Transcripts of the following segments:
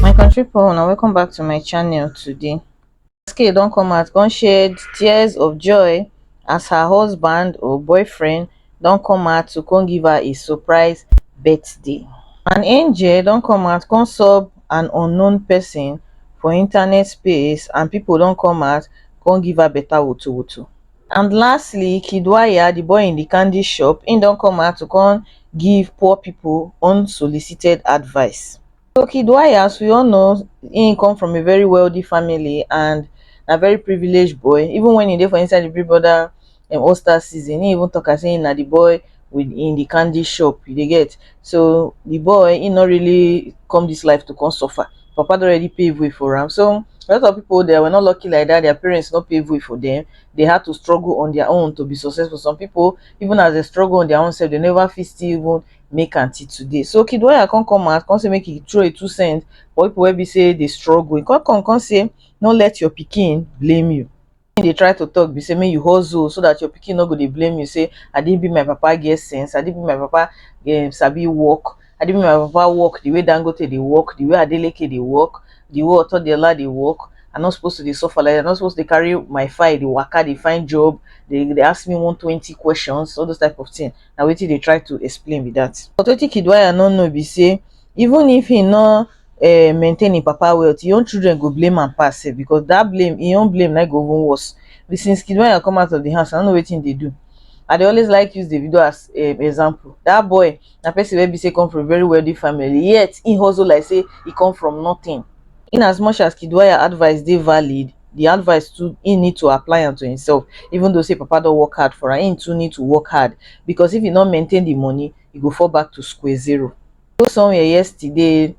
my country people una welcome back to my channel today Wizkid don come out come shed tears of joy as her husband or boyfriend don come out to come give her a surprise birthday an angel don come out come sub an unknown person for internet space and people don come out come give her better wotowoto and lastly kiddwaya di boy in di candy shop im don come out to come give poor pipo unsolicited advice so kiddwaya as we all know im come from a very wealthy family and na very privilege boy even wen e dey for inside di big brother um all star season im even talk am sey im na di boy with in the candy shop you dey get so the boy he not really come this life to come suffer papa don already pave way for am so a lot of people they were not lucky like that their parents not pave way for them they had to struggle on their own to be successful some people even as they struggle on their own self they never fit still even make until today so kid why i can't come out can't say make it throw a two cents but people will be say they struggle you can't come can't say don't let your picking blame you Wetin dey try to talk be say make you hustle so that your pikin no go dey blame you say I didn't be my papa get sense, I didn't be my papa um, sabi work, I didn't be my papa work the way Dangote dey work, the way Adeleke dey work, the way Otodiola dey work. I'm not supposed to dey suffer like that. I'm not supposed to dey carry my file, dey waka, dey find job, dey dey ask me one twenty questions, all those type of thing. Na wetin dey try to explain be that. But wetin Kiddwaya no know be say even if he no um maintain him papa wealth him own children go blame am pass sef because that blame him own blame na go even worse the since kid when I come out of the house I don't know wetin him dey do I dey always like use Davido as um example that boy na person wey be say come from very wealthy family yet him hustle like say he come from nothing in as much as kid wire advice dey valid the advice too him need to apply am to himself even though say papa don work hard for am him too need to work hard because if he no maintain the money he go fall back to square zero go somewhere yesterday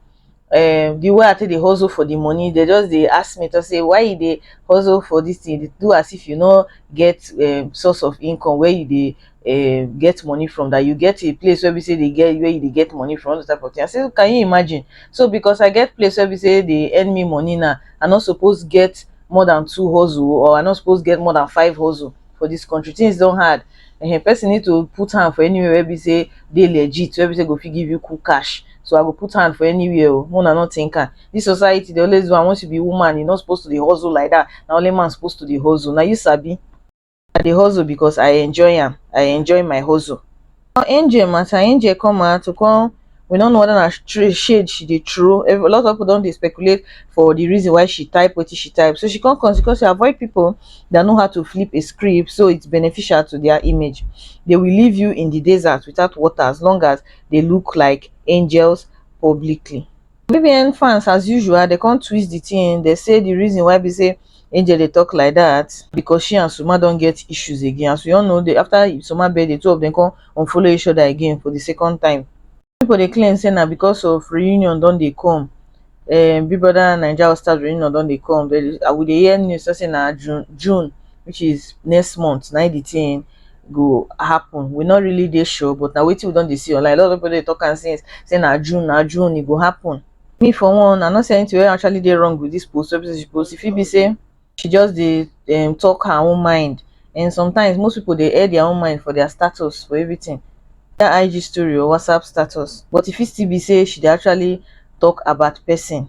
um the way I take dey hustle for the money they just dey ask me to say why you dey hustle for this thing dey do as if you no get um source of income where you dey um get money from that you get a place where be say they get where you dey get money from all those type of thing I say can you imagine so because I get place where be say they earn me money now I no suppose get more than two hustle or I no suppose get more than five hustle for this country things don hard um person need to put hand for anywhere wey be sey dey legit wey be sey go fit give you cool cash so I go put hand for anywhere o make una no think am this society dey always do am once you be woman you no suppose to dey hustle like that na only man suppose to dey hustle na you sabi I dey hustle because I enjoy am I enjoy my hustle. Angel matter, Angel come out to come we no know whether na stra- shade she dey throw Ev- a lot of people don dey speculate for the reason why she type wetin she type so she come consequence she avoid people that know how to flip a script so it's beneficial to their image they will leave you in the desert without water as long as they look like angels publicly BBN fans as usual they come twist the thing they say the reason why be say Angel they talk like that because she and Suma don't get issues again as we all know they after Suma bed the two of them come unfollow each other again for the second time. People they claim say now because of reunion don't they come um, Big Brother Nigeria All Stars reunion don't they come they, I would hear news say now June June which is next month now the thing go happen we no really dey sure but na wetin we don dey see online a lot of people dey talk am since say na june na june e go happen me for one i no see anything wey actually dey wrong with this post wey be say she post e fit be say she just dey um, talk her own mind and sometimes most people dey air their own mind for their status for everything that ig story or whatsapp status but e fit still be say she dey actually talk about person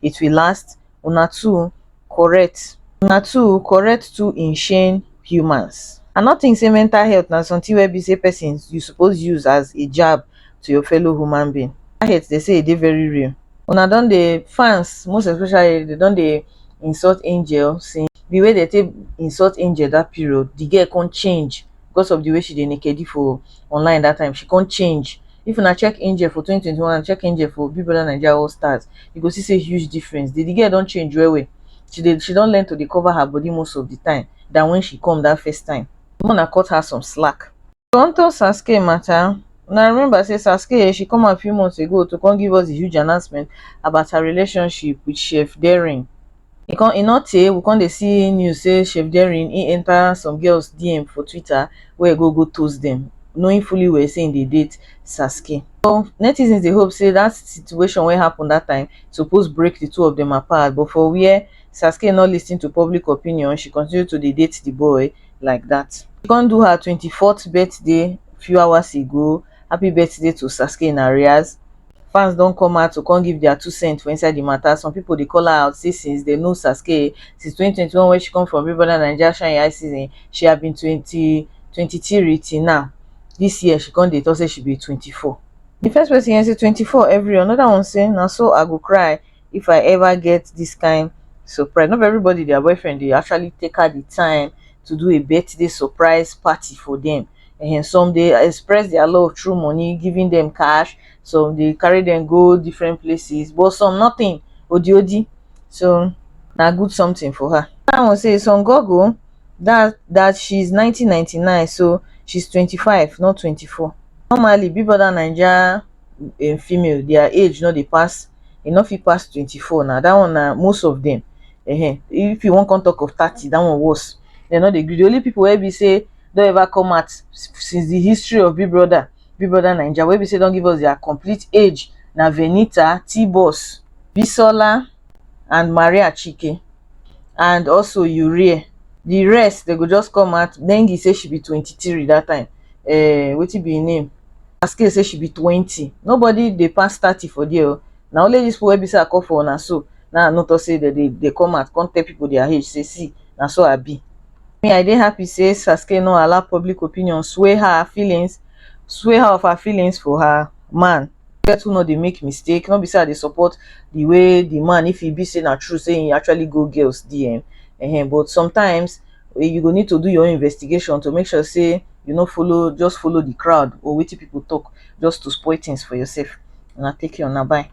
it will last una two correct una two correct two insane humans i no think say mental health na something wey be say person you suppose use as a jab to your fellow human being that hate they say e dey very real una don dey fans most especially they don dey insult angel since the way they take insult angel that period the girl come change because of the way she dey nakedi for online that time she come change if una check angel for 2021 and check angel for big brother naija all stars you go see say huge difference the, the girl don change well well she dey she don learn to dey cover her body most of the time than when she come that first time make una cut her some slack Onto Sasuke matter, una remember say Sasuke she come out few months ago to come give us the huge announcement about her relationship with Chef Daring. e come e no tey we come dey see news say chef Jerry him enter some girls DM for Twitter wey e go go toast them knowing fully well say him dey date Sasuke. So netizens dey hope say that situation wey happen that time suppose break the two of them apart but for where Sasuke no listen to public opinion she continue to dey date the boy like that. She come do her twenty fourth birthday few hours ago, happy birthday to Sasuke in arrears. fans don come out to come give dia two cent for inside di mata, some pipo dey call her out say since dem know Sasuke since twenty twenty one wey she come from Big Brother Naija shine your eye season she have been twenty twenty three till now dis year she come dey talk say she be twenty four. Di first pesin yarn say twenty four every anoda one say na so I go cry if I ever get dis kain surprise no be everybody dia boyfriend dey actually take out di time to do a birthday surprise party for dem. um some dey express their love through money giving them cash some dey carry them go different places but some nothing odi odi so na good something for her. Another one say some goggle that that she's nineteen ninety nine so she's twenty five not twenty four normally big brother naija um female their age no dey pass e no fit pass twenty four na that one na most of them um if you wan come talk of thirty that one worse dem no dey gree the only people wey be say don ever come out since the history of Big Brother, Big Brother Naija wey be say don give us their complete age na Venita, T-Boss, Bisola and Maria Chike and also Urie. The rest they go just come out. Nengi say she be 23 that time. Uh, wetin be her name? Aske say she be 20. Nobody dey pass 30 for there. oh. Na only this people wey be say I call for una so. Now I no talk say they dey they come out come tell people their age say see na so I be. me i dey happy say sasuke no allow public opinion sway her feelings sway her of her feelings for her man get who no dey make mistake no be say i dey support the way the man if e be say na true say he actually go girls dm um but sometimes you go need to do your own investigation to make sure say you no follow just follow the crowd or wetin people talk just to spoil things for yourself una take care una bye.